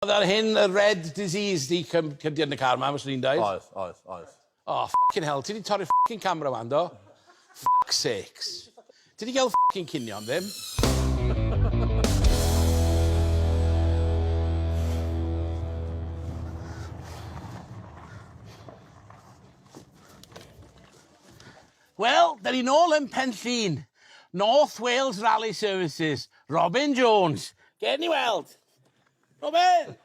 Oedd ar hyn y red disease di cym cymdiad yn y car ma fyswn i'n deud. Oedd oedd oedd. Oh ffycin hel ti di torri ffycin camera wan do? Ffyc sakes. Ti di gel ffycin cinio am ddim. Wel da ni nôl yn Pen Llŷn. North Wales Rally Services. Robin Jones. Gewn ni weld. Robin!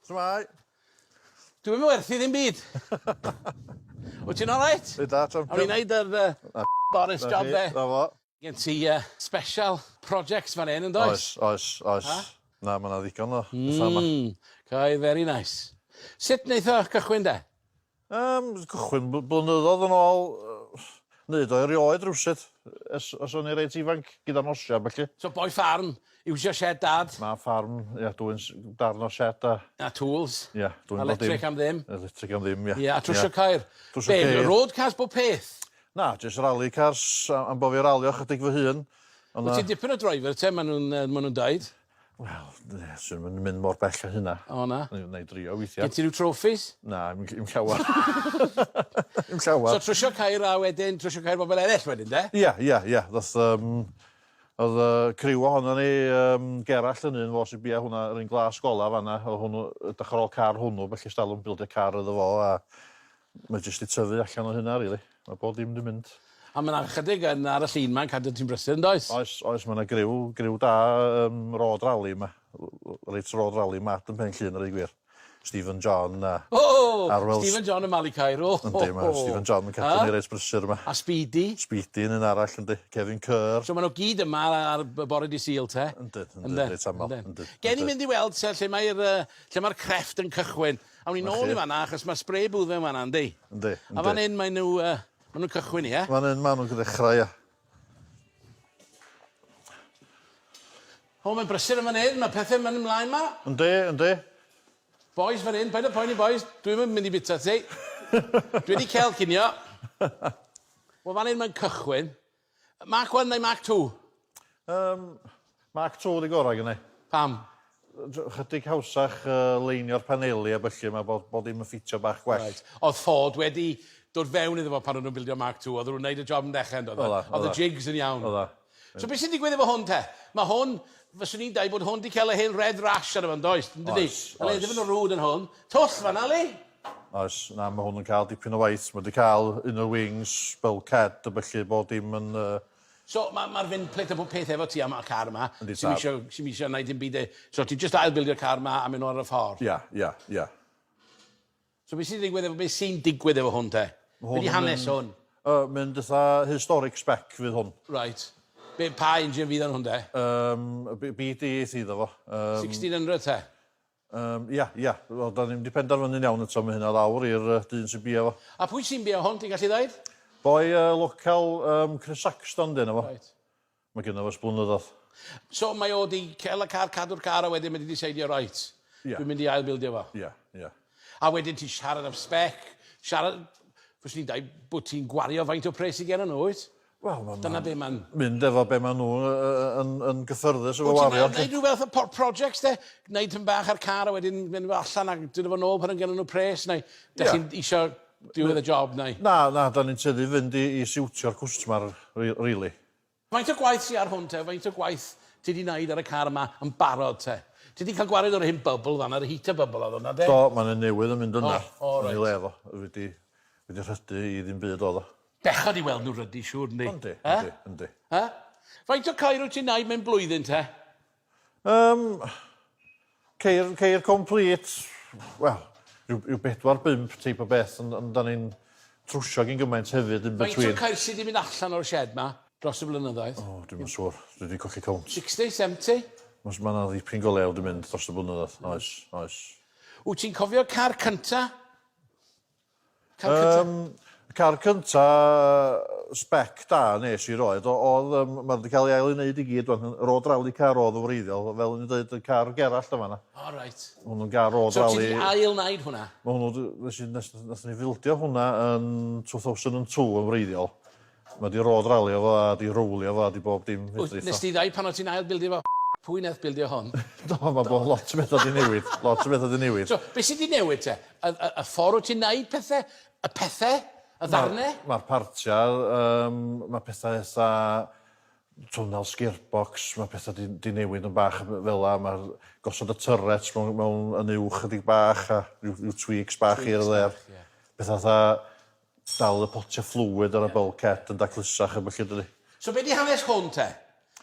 Shwmae? Dyw e 'im yn werth 'i ddim byd. Wyt ti'n alright? Reit dda champion. Awn ni neud yr yy y Boris job 'de? 'Na fo. Gen ti yy special projects fan 'yn yndoes? Oes oes oes. A? Na ma' 'na ddigon o betha 'ma. Hmm. Cau very nice. Sut neith o cychwyn 'de? Yym, cychwyn bl- blynyddoedd yn ôl, yy, neu do erioed rywsut, ers os o'n i reit ifanc, gyda nosi a felly. So boi ffarm, iwsio shed dad, Mae ffarm, ia, dwi'n s- darn o shed a, a tools, ia, dwi'n bod dim. electric am ddim. Electric am ddim, ia. Ie, a trwsio cair. Trwsio Be, ceir. road cars bob peth? Na, jyst rally cars, a- am bo fi ralio chydig fy hun. Ond Wyt na, ti'n dipyn o driver te, maen nhw'n yy, maen nhw'n daid. Wel, yy, swn i'm yn mynd mor bell â hynna. O, na? Nai nai drio weithia'. Gen ti ryw trophies? Na, 'im ll- 'im llawar. 'Im llawar. So trwsio ceir a wedyn trwsio ceir bobol eryll wedyn 'de? Ia ia ia ddoth yym o'dd yy criw ohonon ni yym Gerallt yn un fo sy bia hwnna yr un glas gola fan 'na o' hwnnw edrych ar ôl car hwnnw felly 'stalwm bildio car iddo fo a Mae jyst i tyfu allan o hynna rili. Mae bob dim di mynd. A mae yna chydig yn ar y llun ma'n cadw ti'n brysur yndoes? Oes, oes, mae yna griw, griw da um, road rally yma. Reit road rally mad yn pen llun yr ei gwir. Stephen John a... O! Oh, Arwel... Stephen John yn Mali Cairo. Yndi, mae Stephen John yn cadw ni reit brysur yma. A Speedy. Speedy yn un arall yndi. Kevin Kerr. So maen nhw gyd yma ar bore di syl te? Yndyn, yndyn, reit aml. Gen i mynd i weld lle mae'r uh, lle mae'r crefft yn cychwyn. Awn ni nôl i fan 'na achos ma' spray booth mewn fan 'na yndi? Yndi yndi. A fan 'yn mae n'w yy ma' nw'n cychwyn ia? Fan 'yn ma' nw'n ddechra ia. O mae'n brysur yn fan 'yn ma' pethe'n myn' mlaen 'ma. Yndi yndi. Bois fan 'yn paid â poeni bois dwi'm yn mynd i bita ti. Dwi 'di cel cinio. Wel fan 'yn mae'n cychwyn. Mark one neu Mark two? Yym, Mark two di gorau gynnau. Pam? Chydig hawsach uh, leinio'r paneli a byllu, mae bod, bod dim yn ffitio bach gwell. Right. Oedd Ford wedi dod fewn iddo fo pan o'n nhw'n bildio Mark two, oedd nhw'n wneud y job yn dechrau yn dod. Oedd y jigs yn iawn. Oedda. So beth sy'n digwydd efo hwn te? Mae hwn, fyswn i'n dweud bod hwn wedi cael ei hen red rash arno fo, yn does? Oes, oes. Oedd e ddim yn rwd yn hwn. Twll fanna, le? Oes, na, mae hwn yn cael dipyn o waith. Mae wedi cael un o'r wings, bulkhead, a felly bod dim yn... Uh... So, mae'r ma fin plit a bob peth efo ti am y car yma. Yndi, tad. Sy'n eisiau gwneud dim byd e. So, ti just ailbildio'r car yma a mynd ar y ffordd. Ia, yeah, ia, yeah, ia. Yeah. So, beth sy'n digwydd efo, beth sy'n digwydd efo hwn te? Hwn Beth hanes hwn? Uh, mynd eitha historic spec fydd hwn. Right. Be, pa engine fydd yn hwn de? Um, BD eith iddo fo. Um, 1600 te? Yym, ia, ia. Wel, da ni'm di penderfynu'n iawn eto, ma' hynna lawr i'r yy dyn sy'n bia fo. A pwy sy'n bia hon, ti'n gallu ddeud? Boi yy local yym Chris Saxton di enw fo. Reit. Ma' gynno fo ers blynyddodd. So mae o di cel y car, cadw'r car a wedyn mae di diseidio reit. Ia. Dwi'n mynd i ail bildio fo. Ia, ia. A wedyn ti'n siarad am spec, siarad, fyswn i'n dweud bod ti'n gwario faint o pres sy gennyn nhw, wyt? Wel ma' Dyna be' ma'n... mynd efo be' ma' nw yy yy yn yn gyffyrddus efo wario 'lly. Wt ti'n neud ryw fath o por- projects 'de? Neud tym bach ar car a wedyn mynd efo allan a dod efo nôl pan yn gynno nw pres neu 'dych chi'n isio diwedd y job neu? Na na 'dan ni'n tueddu fynd i i siwtio'r cwstmar ri- rili. Faint o gwaith sy ar hwn te? Faint o gwaith ti 'di neud ar y car yma yn barod te? Ti 'di ca'l gwared o'r hen bubble fan 'na yr heater bubble odd wnna 'de? Do ma' 'ne newydd yn mynd yna. O o reit. Yn 'i le fo. Wedi wedi rhydu i ddim byd odd o. Bechod i weld nhw rydy, siŵr, yndi? Yndi, yndi, yndi. Ha? Faint o ceir wyt ti'n wneud mewn blwyddyn te? Um, ceir, ceir complete, wel, rhyw, rhyw bedwar bimp teip o beth, ond, ond da ni'n trwsio gyn gymaint hefyd yn between. Faint o ceir sydd wedi mynd allan o'r shed ma dros y blynyddoedd? O, oh, dwi'n mynd siŵr, dwi wedi cochi count. 60, 70? Mae yna ddipyn go lew wedi mynd dros y blynyddoedd, oes, oes. Wyt ti'n cofio car cynta? Car cynta? Um, car cynta spec da nes i roed. Oedd, um, mae wedi cael ei ail i wneud i gyd, yr oed rali car oedd yn wreiddiol, fel yn dweud, y car gerallt yma na. O, oh, reit. Hwn yn gar oed rali. So ti wedi ail wneud hwnna? Mae hwnnw, nes i, nes, nes ni fildio hwnna yn 2002 yn wreiddiol. Mae 'di road ralio fo a 'di rowlio fo a 'di bob dim fedrith o. Wyt, nes di ddau pan o' ti'n ail bildio fo? Pwy neth bildio hon? Do, ma' bo- lot o betha 'di newid, lot o betha 'di newid. So, be' sy' 'di newid te? Y y y ffor wt ti'n neud pethe? Y pethe? Y ddarne? Ma' ma'r partia yym ma' petha eitha twnnel sgirbox ma' petha 'di 'di newid yn bach yy fela ma'r gosod y turets mewn mewn yn uwch chydig bach a ryw ryw tweaks bach here or there. Tweaks bach ie. Petha fatha Dal y potiau fflwyd ar y bulkhead yn daclusach a bellid ydy. So be di hanes hwn te?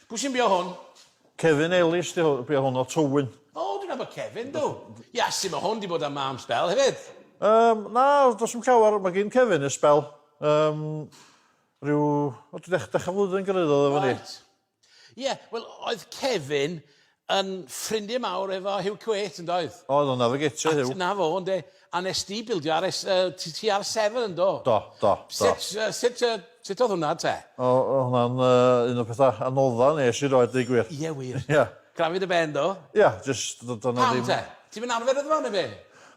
Pwy sy'n bio hwn? Kevin Ellis di hwn, bia hwn o Tywyn. O, dwi'n nabod Kevin, dw. Iasu, mae hwn di bod am am sbel hefyd. Yym, na, does dim llawer, mae gyn Kevin y sbel. Yym, rhyw, o, dech, dech a flwyddyn gyrraeddodd efo ni. Reit. Ie, wel, oedd Kevin yn ffrindie mawr efo Hugh Quate, yn doedd? Oedd, oedd 'na fygetio Hugh. Na fo, ynde. A nes di bildio ar es- yy t- TR seven, yndo? Do, do, do. Sut yy sut yy sut oedd hwnna, te? O, o' hwnna'n yy un o'r petha anodda nes i roed deu gwir. Ie wir. Ie. Graffu dy ben, do? Ie, jyst do' do' 'na ddim... Pam te? Ti'm yn arfer iddo fo, ne' be'?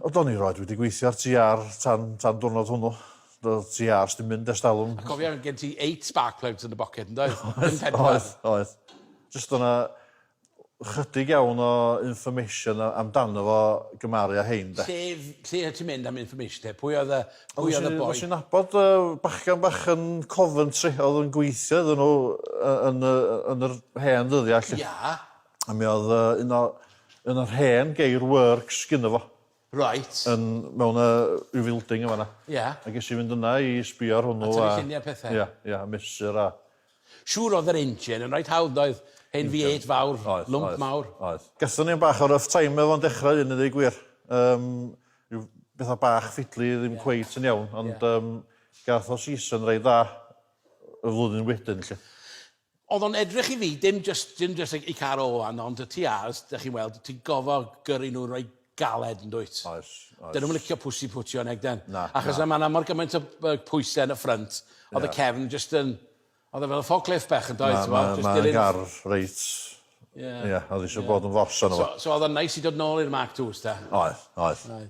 O, do'n i roed wedi gweithio ar TR tan tan dwrnod hwnnw. Doedd ti ars dim mynd ers talwm. A cofia, gen ti eight spark plugs yn dy boced, yn doedd? Oedd, oedd, oedd. Jyst oedd yna chydig iawn o information amdano fo gymaru a hein, de. Lle, lle oedd ti'n mynd am information te? Pwy oedd y, pwy oedd y boi? Nes i'n nabod uh, bachgan bach yn Coventry, oedd yn gweithio iddyn nhw yn, yn, yn yr hen ddyddiau. Ia. A mi oedd uh, un o, un o'r hen geir works gyda fo. Reit. Yn mewn yy ryw filding yn fan 'na. Ia. A ges i fynd yna i sbio ar hwnnw a... A tynnu llunie a pethe. Ia ia a mesur a... Siŵr o'dd yr engine yn reit hawdd doedd? Hen Vee Eight fawr. Oedd oedd. Lwmp mawr. Oedd. Gathon ni 'yn bach o rough time efo fo'n dechra 'wn i ddeu gwir. Yym ryw betha bach ffidli ddim cweit yn iawn ond yym gath o season reit dda y flwyddyn wedyn 'lly. Oedd o'n edrych i fi, dim jyst, dim jyst y car o wan, ond y TRs, dych chi'n weld, ti'n gofo gyrru nhw roi galed, yn dwyt? Oes, oes. Dyn nhw'n licio pwsi pwtio yn egden. Na, na. Achos mae yna mor gymaint o pwysau yn y ffrynt, oedd y cefn jyst yn... Oedd e fel y forklift bach, yn doedd? Na, na, mae yna gar reit... Ie. Ie, oedd eisiau bod yn fors arno fo. So oedd o'n neis i dod nôl i'r Mark IIs, ta? Oedd, oedd. Oedd.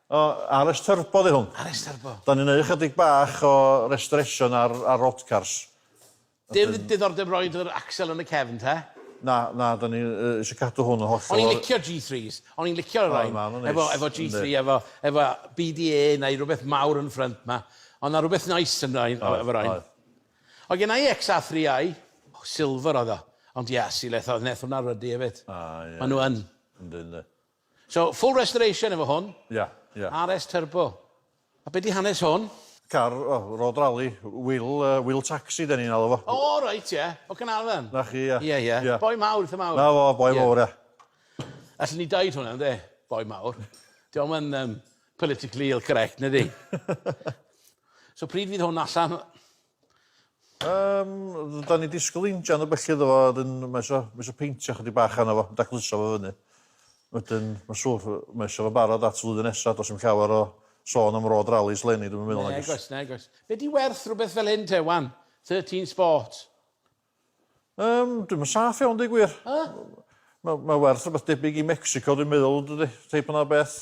O, RS Turbo 'di hwn. RS Turbo. Da ni'n neu' chydig bach o restoration ar ar old cars. Dim diddordeb roid yr accel yn y cefn te? Na, na, da ni yy isio cadw hwn yn hollol... O'n i'n licio Gee threes, o'n i'n licio y rain efo efo Gee three efo efo BDA neu rwbeth mawr yn ffrynt ma'. O' 'na rwbeth neis yn rain yy efo rain. O' gynna i Ex Are Three I, silver oedd o, ond Iasu le tho- neth hwnna rydu efyd. A ie. Ma' nw yn. Yndi yndi. So full restoration efo hwn. Ia, ia. RS Turbo. A be di hanes hwn? Car, o, road rally, wheel, uh, wheel taxi da ni'n alw fo. O, oh, reit, ie. Yeah. O Canarfan. Na chi, ia. Ia, ia. Yeah. Boi mawr, eitha mawr. Na fo, boi yeah. mawr, ia. Allen ni daid hwnna, ynddo? Boi mawr. Diolch yn um, politically ill correct, nid i? so pryd fydd hwn allan? Um, da ni disgwyl injan o bellid o fo, a dyn mae eisiau, mae eisiau peintio chydig bach anna fo, dacluso fo fyny. Wedyn, mae siwr, mae eisiau fo barod at flwyddyn nesaf, dos i'n llawer o sôn am rod rallies lenni, dwi'n meddwl. Nag oes, nag oes. Be di werth rhywbeth fel hyn te, wan? 13 Sport? Um, dwi'n mynd saff iawn, di gwir. Huh? Mae ma werth rhywbeth debyg i Mexico, dwi'n meddwl, dydy, teip yna beth.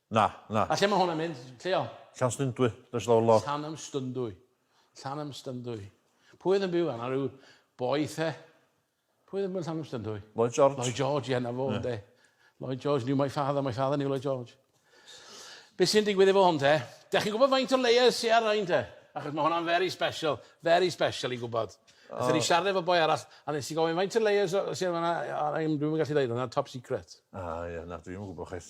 Na, na. A lle mae hwn yn mynd? Lle o? Llanstundwy, does lawr lawr. Llanymstundwy. Llanymstundwy. Pwy oedd yn byw yna? Rhyw boi the? Pwy oedd yn byw yn Llanymstundwy? Lloyd George. Lloyd George, ie, na fo, yeah. de. Lloyd George knew my father, my father knew Lloyd George. Be sy'n digwydd efo hwn te? Da chi'n gwybod faint o layers sy'n ar ein te? Achos mae hwnna'n very special, very special i gwybod. Oh. Ydyn ni siarad efo boi arall, a nes i gofyn faint o layers sy'n ar ein, dwi'n gallu dweud, hwnna'n top secret. Ah, ie, yeah, na, dwi'n gwybod chwaith.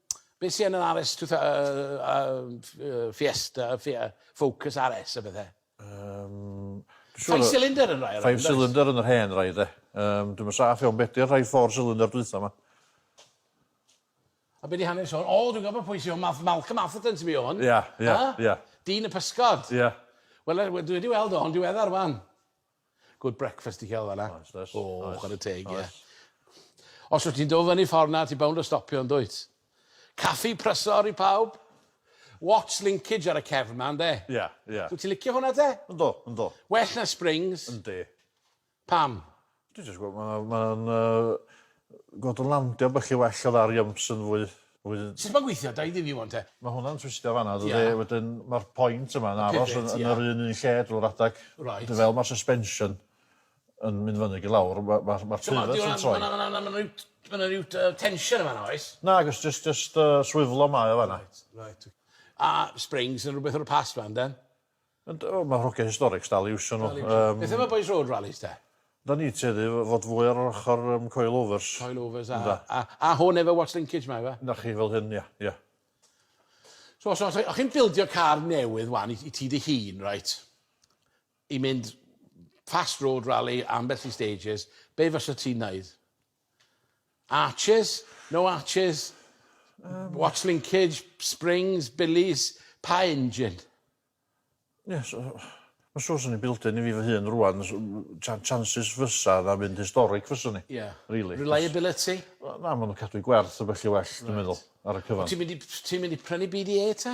be sy yn yr Are Ess two thou- yy yy yy Fiesta Fi- yy Focus Are Ess a bethe? Yym dwi siŵr... Five cylinder yn rai o rei. Five cylinder yn yr hen rai 'de. Yym dwi'm yn saff iawn be' 'di'r rhai four cylinder dwytha 'ma? A be' 'di hanes hwn? O dwi'n gwbo pwy sy o Math- Malcolm Atherton sy bio hwn. Ia ia ia. Dyn y pysgod. Ia. Wel yy we- dwi wedi weld o yn diweddar 'wan. Good breakfast i ca'l fanna. Oes does. O chware teg ie. Oes. Os wyt ti'n dod fyny ffordd 'na ti bownd o stopio yndwyt? Caffi prysor i pawb. Watts linkage ar y cefn 'ma ynde? Ie ie. Wyt ti'n licio hwnna te? Yndw yndw. Well na Springs? Yndi. Pam? Dwi jyst gwel' ma' ma'n yy gweld o'n landio bach yn well o dda Riumps yn fwy A wedyn... Sut ma'n gweithio? Dau ddyn yw 'wn te? Ma' hwnna'n twistio fanna dydi? Ie. Wedyn ma'r point yma'n aros... Y pivot, ie. ...yn yr un un lle drw'r adag. Reit. Wedyn fel ma'r suspension yn mynd fyny ag i lawr ma' ma' ma'r pivot yn troi. Ma' 'na ma' 'na ryw ma' 'na ryw yy tension yn fanna oes? Nag o's jyst jyst yy swiflo mae o fanna. Reit reit. A springs yn rwbeth o'r past 'wan 'de? Ond o ma' hogia historics dal i iwsio nhw. Yym. Beth am y bois road rallies te? Da ni'n tueddu i fod fwy ar yr ochor yym coil overs. Coil overs a a a hwn efo watch linkage ma yfe? Na chi fel hyn ia ia. So os os o' chi'n bildio car newydd wan i i ti dy hun reit i mynd fast road rally ambell i stages be' fysa ti'n neud? Arches? No arches? Um, What's linkage? Springs? Billies? Pa engine? Yes, uh, Mae'n siŵr sy'n ni built-in i fi fy hun rwan, chances fysa na fynd historic fysa ni. Yeah. Really. Reliability? Na, maen nhw'n cadw i gwerth o bell i well, dwi'n meddwl, ar y cyfan. Ti'n mynd i, ti mynd i prynu BDA te?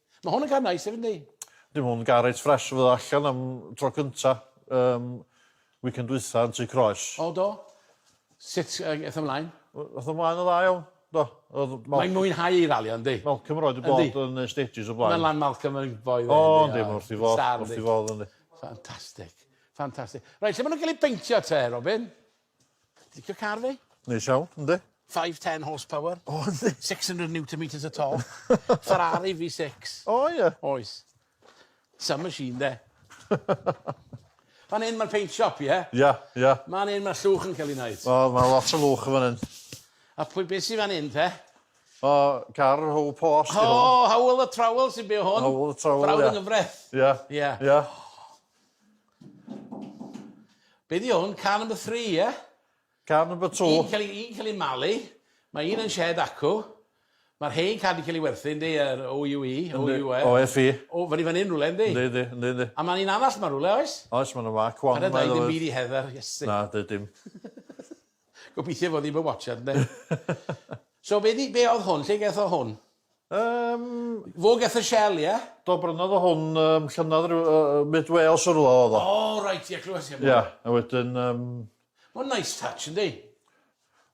Mae hwn yn gar nice hefyd, yndi? Dim ond gar reit ffres fyddo allan am tro cynta um, weekend dwytha yn tu croes. O, do? Sut uh, eith ymlaen? Eith ymlaen yn dda iawn, do. Mae'n mwynhau ei ralio, yndi? Malcolm roed y bod yn y stages o blaen. Mae'n lan Malcolm yn boi dde. O, yndi, mae wrth i fod, wrth i fod, yndi. Ffantastig, ffantastig. Rhaid, lle maen nhw'n cael ei beintio te, Robin? Licio car fi? Neis iawn, yndi. 510 horsepower. O, yndi. 600 newton meters o torque. Ferrari V6. O, ie. Oes. Some machine, de. Fan hyn mae'r paint shop, ie? Ia, ia. Fan hyn mae llwch yn cael ei wneud. O, mae lot o lwch yn fan hyn. A pwy beth sy'n fan hyn, te? O, car o Howell Post. O, Howell y Trowel sy'n byw hwn. Howell y Trowel, ia. Brawd yng Nghyfraith. Ia. Ia. Ia. Be di hwn? Car number three, ie? Yeah? Car number two. Un cael ei, un cael ei malu. Mae un yn shed acw. Mae'r hein cael ei cael ei werthu, ynddi, yr OUE, OUE. OFE. O, fan i fan hyn rhywle, ynddi? Ynddi, ynddi, ynddi, ynddi. A mae'n un anall mae rhywle, oes? Oes, mae'n yma, cwan. Yna da i ddim byd i heddar, iesu. Na, dwi dim. Gobeithio fod ddim yn watchad, ynddi? so, be, di, be oedd hwn? Lle gaeth o hwn? Yym. Fo geth y shell ie? Do brynodd o hwn yym llynodd ryw yy yy mid Wales o rwla odd o. O reit ie clywes i am hwn. Ia a wedyn yym. Ma'n nice touch yndi?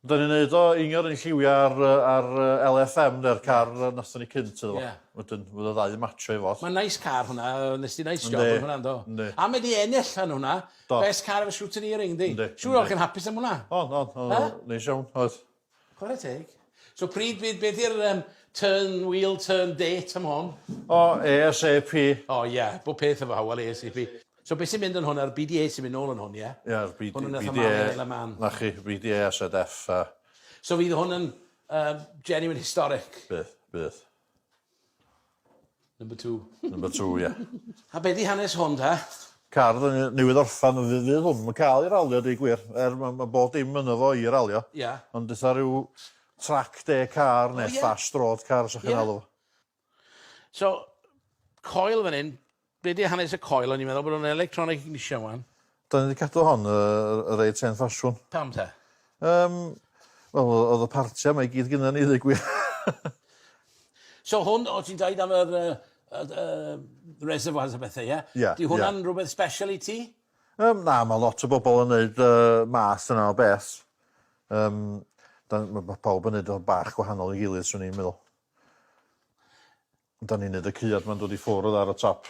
Dyn ni'n neud o iniodd yn lliwia ar yy ar yy LFM ne'r car yy nathon ni cynt iddo fo. Ie. Wedyn fydd y ddau yn matsio i fo. Ma'n nice car hwnna yy nes di nice job yn hwnna yndo? Yndi. A mae di enill yn hwnna. Do. Best car ever shooting earing yndi? Yndi. Siŵr o fod chi'n hapus am hwnna. O'n o'n o'n neis iawn oedd. Chwarae teg. So pryd bydd beth i'r um, turn wheel turn date am hon? O, ASAP. O oh, ie, yeah. bob peth efo hawel ASAP. So beth sy'n mynd yn hwn a'r BDA sy'n mynd nôl yn hwn, ie? Yeah? Ie, yeah, BDA. Hwn yn eitha man. Na chi, BDA a ZF. A... So fydd hwn yn um, genuine historic? Bydd, bydd. Number two. Number two, ie. A be' 'di hanes hon ta? Car odd yn newydd orffan on' fe fydd hwn 'im yn ca'l 'i ralio a deu gwir er ma' ma' bob dim yno fo i ralio. Ia. Ond eitha ryw track day car ne'... O ie? ...fast road car sa chi'n alw fo. So coil fan 'yn Be' 'di hanes y coil? O'n i'n meddwl bod o'n electronic ignition ŵan. 'Dan ni 'di cadw hon yy yy reit hen ffasiwn. Pam te? Yym wel o- o'dd y partia 'ma i gyd gynna ni ddeu' gwir. So hwn o' ti'n deud am yr yy yy d- yy reservoirs a bethe ie? Ie ie. 'Di hwnna'n rwbeth sbesial i ti? Yym na ma' lot o bobol yn neud y math yna o beth. Yym 'dan ma' ma' pawb yn neud o bach gwahanol i gilydd swn i'n meddwl. Da ni'n neud y cyad ma'n dod i ffwrdd ar y top.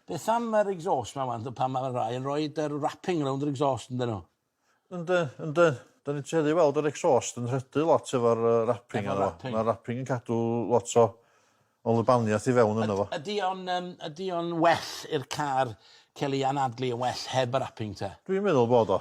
Beth am yr exhaust ma wan pan ma rai yn roid yr wrapping rownd yr exhaust ynddyn nhw? Yndi yndi. Da ni'n tueddu i weld yr exhaust yn rhydu lot efo'r yy wrapping arno fo. Ma'r wrapping yn cadw lot o o lubaniath i fewn yno fo. Ydi o'n yym ydi o'n well i'r car ca'l ei anadlu yn well heb y wrapping te? Dwi'n meddwl bod o.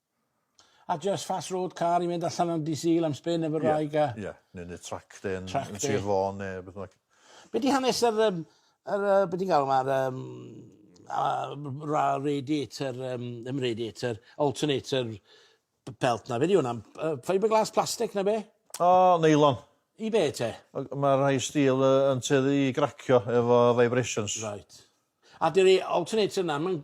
A jyst fast road car i fynd allan am Dydd Sul am spin efo'r wraig a... Ie ie ne' ne' track day yn... Track day. ...yn Sir Fôn ne' beth bynnag. Be' 'di hanes yr yym yr yy be' ti'n galw fe yr yym yy ra- radiator yym ddim radiator alternator b- belt 'na be' 'di wnna yy fibreglass plastic ne' be'? O neilon. I be' te? Yy ma' rhai steel yy yn tueddu i gracio efo vibrations. Reit. A dyw 'i alternator 'na 'im yn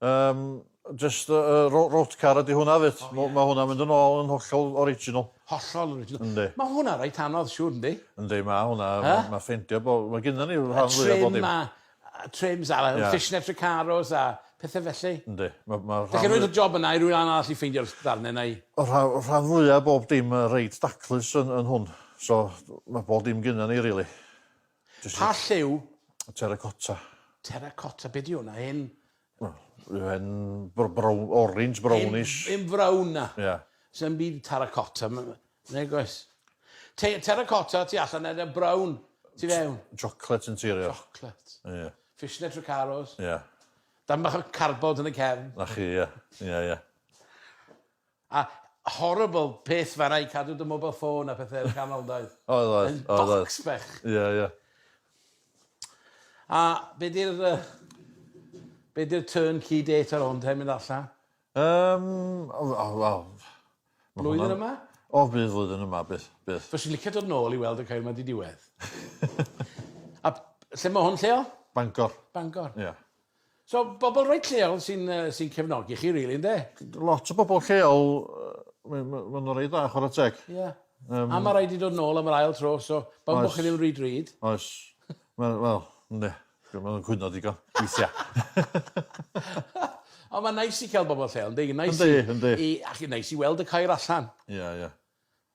Yym jyst yy yy ro- road car ydi hwnna fyd. M- ma' hwnna'n mynd yn ôl yn hollol original. Hollol original. Yndi. Ma' hwnna reit anodd siŵr yndi? Yndi ma' hwnna ma' ma' ffeindio bo- ma' gynnon ni rhan fwya bob dim. Y trim a yy trims a yy fishnets Recaros a pethe felly. Yndi ma' ma' rhan fw-... Dach chi'n roid y job yna i rywun arall i ffeindio'r s- darne neu? Y rha- y rhan fwya bob dim yy reit daclus yn yn hwn so ma' bob dim gynnon ni rili. Pa lliw? Terracotta. Terracotta, be di hwnna? Hen... Wel, yw e'n br- brown, orange, brownish? Yn, yn frown na. Ie. Yeah. Sa'n byd terracotta, neu gos. Te, terracotta ti allan edrych brown, ti fewn. Chocolate interior. Chocolate. Ie. Yeah. Fishnet Ricaros. Ie. Yeah. Dan bach o carbod yn y cefn. Na chi, ie. Yeah. Ie, yeah, ie. Yeah. A horrible peth fanna i cadw dy mobile phone a pethe yn y canol yndoedd? Oedd oedd. Yn bocs bach. Ie ie. A be' 'di'r yy be' 'di'r turn key date ar hwn te mynd allan? Yym o w- o wel. Blwyddyn yma? O fydd flwyddyn yma byth byth. Fyswn i licio dod nôl i weld y ceir ma' 'di diwedd. A lle ma' hwn lleol? Bangor. Bangor. Ia. So bobl reit lleol sy'n yy sy'n cefnogi chi rili ynde? Lot o bobl lleol yy ma' ma' n'w reit dda chwara teg. Ie. Yym. A ma' raid i dod nôl am yr ail tro so pan bo' chi ddim rhy drud. Oes. Wel wel ynde. Dwi me'wl yn cwyno digon weithia. Ond ma'n neis i ca'l bobol lleol yndi? Neis i... Yndi yndi. ...i a chi neis i weld y Caer allan. Ia ia.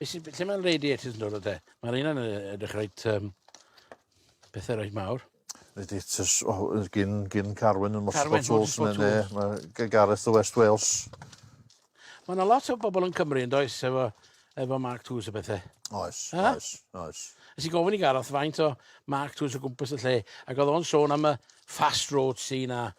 Be sy, lle mae'n radiators yn dod o te? Mae'r un yn edrych reit, um, pethau reit mawr. Radiators, o, oh, gyn, gyn Carwyn yn Motorsport Carwyn, Tools, Motorsport neu Tools. mae Gareth o West Wales. Mae yna lot o bobl yn Cymru yn does efo, efo Mark Tools o bethau. Oes, Ha? oes, oes. Ys i gofyn i Gareth faint o Mark Tools o gwmpas y lle, ac oedd o'n sôn am y fast road scene a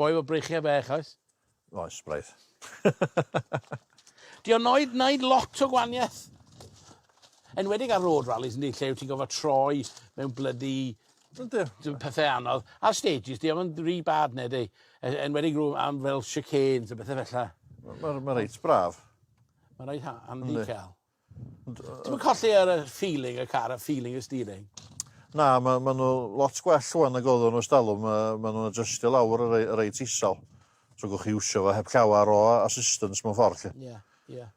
Boi efo breichiau fech, oes? Oes, braidd. Di o'n oed wneud lot o gwaniaeth. Enwedig ar road rallies, yndi, lle yw ti'n gofod troi mewn blydi pethau anodd. Ar stages, di o'n rhi bad, neu di? E, enwedig rhywun am fel chicanes a bethau felly. Mae'n ma reit braf. Mae'n reit handi cael. Ti'n colli ar y feeling y car, y feeling y steering? Na, mae ma nhw lot gwell rwan nag oedden nhw stalwm. Mae ma nhw'n adjustio lawr y rei, reit isal. So gwch chi iwsio fo heb llawer o assistance mewn ffordd. Ie, yeah, ie. Yeah.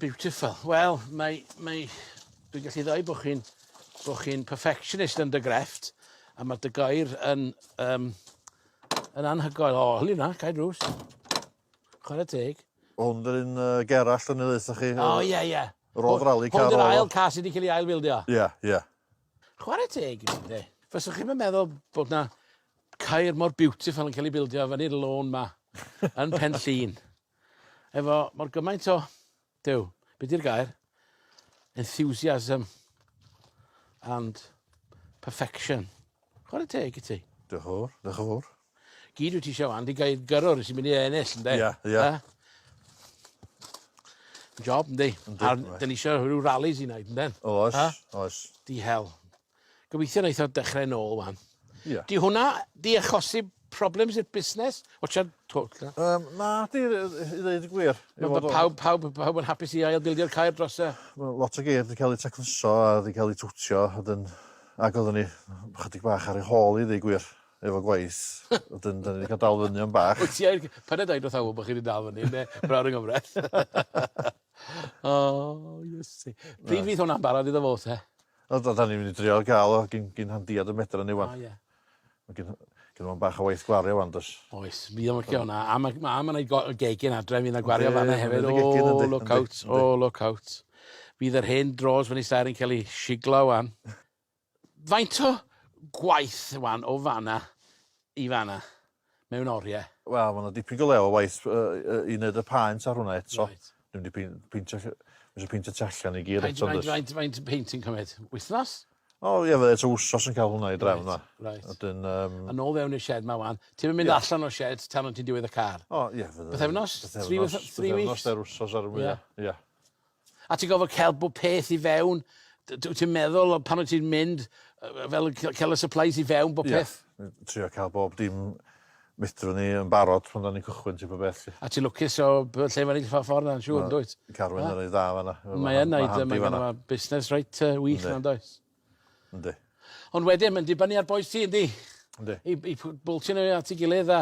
Beautiful. Wel, mae, mae, dwi'n gallu ddau bod chi'n bod chi'n perfectionist yn dy grefft, a mae dy gair yn, um, yn anhygoel. O, hynny na, cair drws. Chwarae teg. O hwn yr un yy Gerallt o'n i ddeutha chi. O ie ie. Yr odd rali car odd o. Hwn yw'r ail car sy' 'di ca'l 'i ail fildio. Ie ie. Chware teg i fi ynde. Fyswch chi'm yn meddwl bod 'na caer mor beautiful yn ca'l 'i bildio fyny'r lôn 'ma yn Pen Llŷn efo mor gymaint o Duw, be di'r gair? Enthusiasm and perfection. Chwarae teg i ti. Diolch yn fawr, diolch yn fawr. Gyd wyt ti eisiau fan, di gael gyrrwr sy'n mynd i ennill, ynddo? Ia, ia. Job, ynddi. Yndi, A'r, yndi. dyn ni eisiau rhyw rallies i wneud, ynddo? Oes, oes. Di hel. Gobeithio neith o dechre nôl ŵan. Ie. 'Di hwnna 'di achosi problems i'r busnes? Watsiad twll ta. Yym na 'di yy i i ddeud y gwir. Ma' ma' pawb pawb yn pawb yn hapus i ail bildio'r caer dros y... Wel lot o geir 'di ca'l eu tacluso a 'di ca'l eu twtio a 'dyn ag oddwn i chydig bach ar ei hôl 'i ddeu gwir efo gwaith wedyn 'dan ni 'di ca'l dal fyny am bach. Wyt ti ar g- paid â deud wrth bo' chi 'di dal fyny ynde? Brawd yng ngyfraith. O Iesu. Pryd fydd hwnna'n barod iddo fo te? O, da, da ni'n mynd i drio gael o gyn, gyn handiad y medra ni wan. O, ie. Mae gyn, gyn o'n bach o waith gwario wan, dos. Oes, mi o'n licio hwnna. A mae ma, ma yna gegin adre, mi yna gwario fan yna hefyd. O, look out, o, look out. Fydd yr hen dros fan i stair yn cael ei siglo wan. Faint o gwaith wan o fanna i fanna? mewn orie. Wel ma' 'na dipyn go lew o waith yy i neud y paent ar hwnna eto. Reit. Dwi mynd i pei- peintio ll- ma' isio peintio tu allan i gyd eto does? Faint faint peint sy'n cymyd? Wythnos? O ie fydde tua wsos yn ca'l hwnna i drefn yma. Reit. Wedyn yym. A nôl fewn i'r shed 'ma ŵan. Ti'm yn mynd allan o'r shed tan wt ti'n diwedd y car? O ie fydde... Pythefnos? Thrî wythno- three weeks? Pythefnos dair wsos ar y mwya. Ie. Ia. A ti'n gorfod cael bob peth i fewn. D- d- wyt ti'n meddwl o pan wyt ti'n mynd yy yy fel yn ca- cael y supplies i fewn bob Ie. peth? N- trio cael bob dim medrwn ni yn barod pan 'dan ni'n cychwyn ti gwbod beth 'lly. A ti'n lwcus o b- lle ma'n eitha ffor 'na yn siŵr Ma' yndwyt? Carwyn yn reit dda fan 'na. Yy Mae yn neud yy mae gynno fo busnes reit yy wych Yndi. 'na yndoes? Yndi. Ond wedyn ma'n dibynnu ar bois ti yndi? Yndi. I i pw- bwlcio n'w at 'i gilydd a